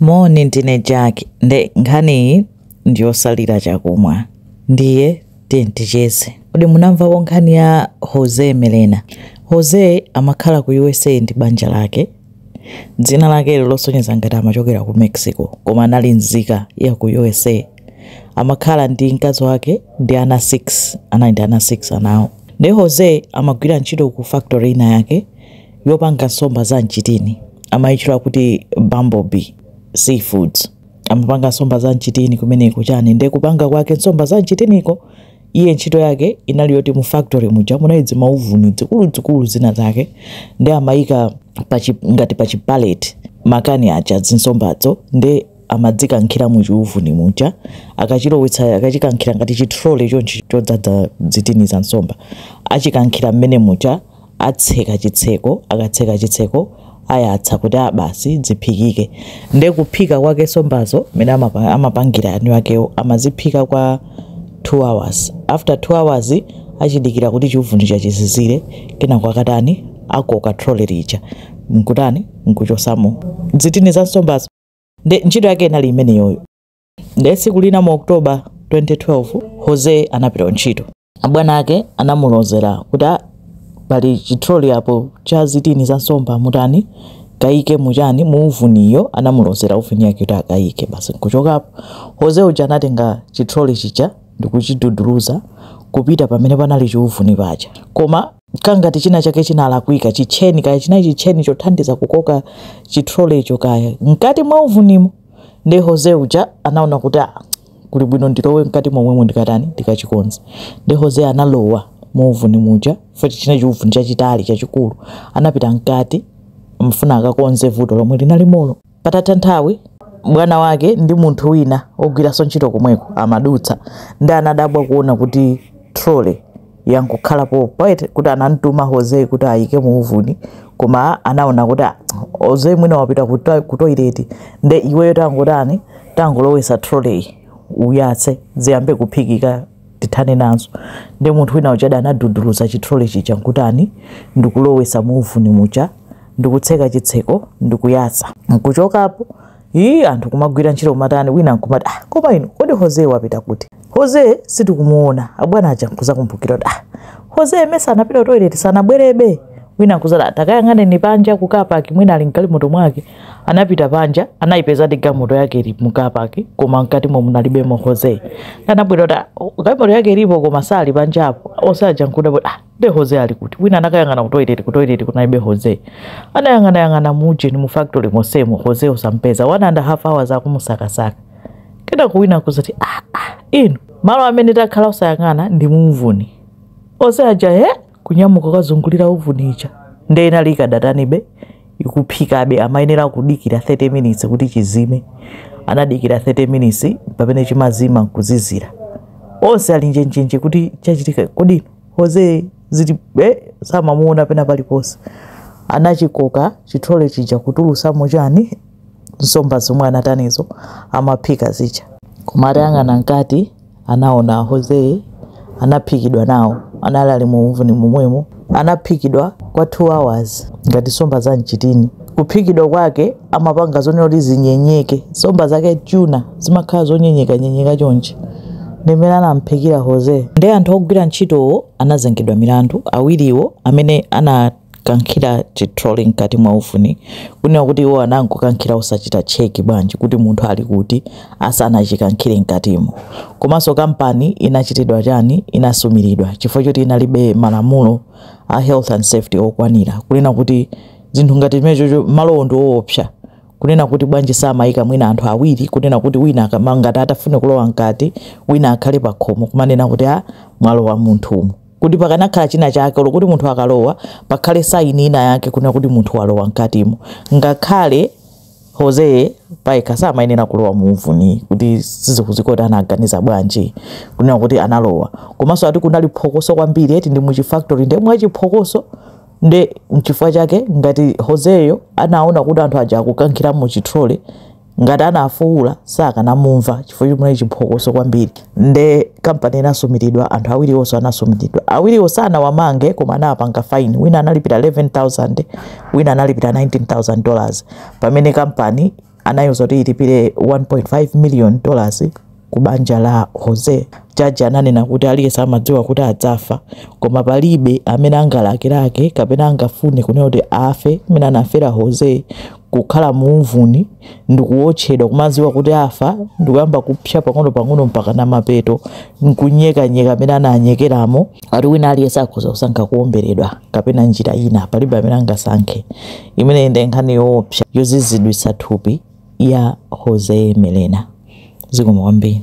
Moni ndine Jack nde nkhaniyi ndiyosalira chakumwa ndiye tiyeni ticheze. Kodi munamvako nkhani ya Jose Melena? Jose amakhala ku usa ndi banja lake. Dzina lakeli losonyeza ngati amachokera ku Mexico koma anali nzika ya ku usa. Amakhala ndi mkazi wake ndi ana 6 anali ndi ana 6 anawo. Nde Jose amagwira ntchito ku factory ina yake yopanga nsomba za mchitini amayitchula kuti bumblebee seafoods amapanga nsomba za mchitini kumeneko chani nde kupanga kwake nsomba za mchitiniko iye ntchito yake inali yoti mu factory muja munali dzimauvuni dzikuluzikulu zina zake nde amayika pachi, ngati pa chipalet makani aja zinsombazo nde amadzikankhira mu chiuvuni muja akachilowetsa akachikankhira ngati chitrole chonchi chodzadza dzitini za nsomba achikankhira mmene muja atseka chitseko akatseka chitseko ayatsa kuti basi ah, dziphikike nde kuphika kwake nsombazo mmene amapangira eni akewo amaziphika kwa 2 hours after 2 hours achidikira kuti chiuvuni chija chizizire kenako akatani akoka trole lija nkutani nkuchosamo dzitini za nsombazo nde ntchito yake inali imeneyoyo Ndiye tsiku lina mu October 2012, José anapita kuntchito. Abwana ake anamulozera kuti, Ah, pali chitroli apo cha zitini za nsomba, mutani? Mukaike muchani? Mu uvuniyo. Anamulozera uvuni yake kuti akaike. Basi nkuchokapo. José uja anatenga chitroli chija ndikuchiduduluza kupita pamene panali chiuvuni paja. Koma kangati china chake chinalakwika chitcheni kaya chinali chitcheni chothandiza kukoka chitrolecho kaya mkati mwa uvunimo nde Jose uja anaona kuti ah, kuli bwino ndilowe mkati momwemo ndikatani ndikachikonze nde Jose analowa mu uvuni muja futi chinali chiuvuni chachitali chachikulu anapita mkati kufuna akakonze vuto lomwe linalimolo Patatha nthawi, bwana wake ndi munthu wina wogwiranso ntchito komweko amadutsa nde anadabwa kuona kuti trolley yangokhala pompo yet kuti anamtuma Jose kuti ayike mu uvuni koma anaona kuti "Ah, Jose mwina wapita ku to- ku toilet nde iweyo tangotani tangolowesa trolleyi uyatse ziyambe kuphikika tithane nazo nde munthu wina uja anaduduluza chitrole chija nkutani ndikulowesa muuvuni muja ndikutseka chitseko ndikuyasa nkuchokapo ii anthu kumagwira ntchito kumatani wina nkumati ah, koma inu kodi jose wapita kuti jose sitikumuona abwana aja nkuzakumbukira kuti ah, jose mesa anapita toilet sanabwerebe wina nkuzati ah takayang'aneni panja ku car park mwina ali mgalimoto mwake anapita panja anayipeza ndi galimoto yake ili mu car park koma mkati muja munalibemo jose anabwera kuti "Ah, galimoto yake ilipo koma sali panjapo onse aja nkuda kuti ah nde jose ali kuti wina anakayang'ana kutoilet kutoilet kunalibe jose anayang'anayang'ana mujeni mu factory mosemo jose osampeza one and a half hours akumusakasaka kenako wina kuzati ah, ah, inu malo amene takhala osayang'ana ndi muuvuni onse aja he kunyamuka kukazungulira uvuni ija nde inali ikadatani be ikuphikabe amayenera kudikira 30 minutes kuti chizime anadikira 30 minutes pamene chimazima nkuzizira onse ali njenjenje kuti chachitika kodi jose ali kuti eh, samamuona pena paliponse anachikoka chitrole chija kutulutsamo chani nsomba zomwe anatanizo amaphika zija koma atayang'ana mkati anaona Jose anaphikidwa nawo anali ali mu uvuni momwemo anaphikidwa kwa 2 hours ngati nsomba za mchitini kuphikidwa kwake amapanga zonena kuti zinyenyeke nsomba zake tuna zimakhala zonyenyeka nyenyeka chonchi ndimene anamphikira Jose ndi anthu ogwira ntchitowo anazengedwa milandu awiriwo amene ana kankhira chitrole mkati mwa uvuni kunena kuti iwo anangokankhira osachita cheki bwanji kuti munthu ali kuti asanachikankhire mkatimo komanso kampani inachitidwa chani inasumiridwa chifukwa choti inalibe malamulo a health and safety okwanira kunena kuti zinthu ngati zimenezo malowo ndi oopsa kunena kuti bwanji samayika mwina anthu awiri kunena kuti wina ngati atafune kulowa mkati wina akhale pakhomo kumanena kuti a ah, mwalowa munthu umu kuti pakanakhala china chake olo kuti munthu akalowa pakhale saini ina yake kunena kuti munthu walowa mkatimo ngakhale jose pajatu samayenera kulowa muuvuni kuti sizikudziwika kuti anaganiza bwanji kunena kuti analowa komanso ati kunali phokoso kwambiri eti ndi muchifactory nde mwa chiphokoso nde mchifukwa chake ngati joseyo anaona kuti anthu aja akukankhira muchitrole ngati anafuwula sakanamumva chifukwa choti muli chiphokoso kwambiri nde kampani inasumiridwa anthu awiriwonso anasumiridwa awiriwo sanawamange koma anawapanga fine wina analipira 11000 wina analipira 19000 dollars pamene kampani anayiwuza kuti ilipire 1.5 million dollars Ku banja la José, jaji ananena kuti aliyense amadziwa kuti adzafa, koma palibe amene angalakelake kapena angafune kunena kuti afe mmene anafera José, kukhala muuvuni ndi kuwotchedwa, kumadziwa kuti afa ndi kuyamba kupsa pang'onopang'ono mpakana mapeto n'kunyekanyeka mmene ananyekeramo. Ati wina aliyense akhoza kusankha kuwomberedwa kapena njira ina, palibe amene angasankhe. Imeneyi ndiye nkhani yoopsa yoziziritsa thupi. ya Jose Melena. Zikomo kwambiri.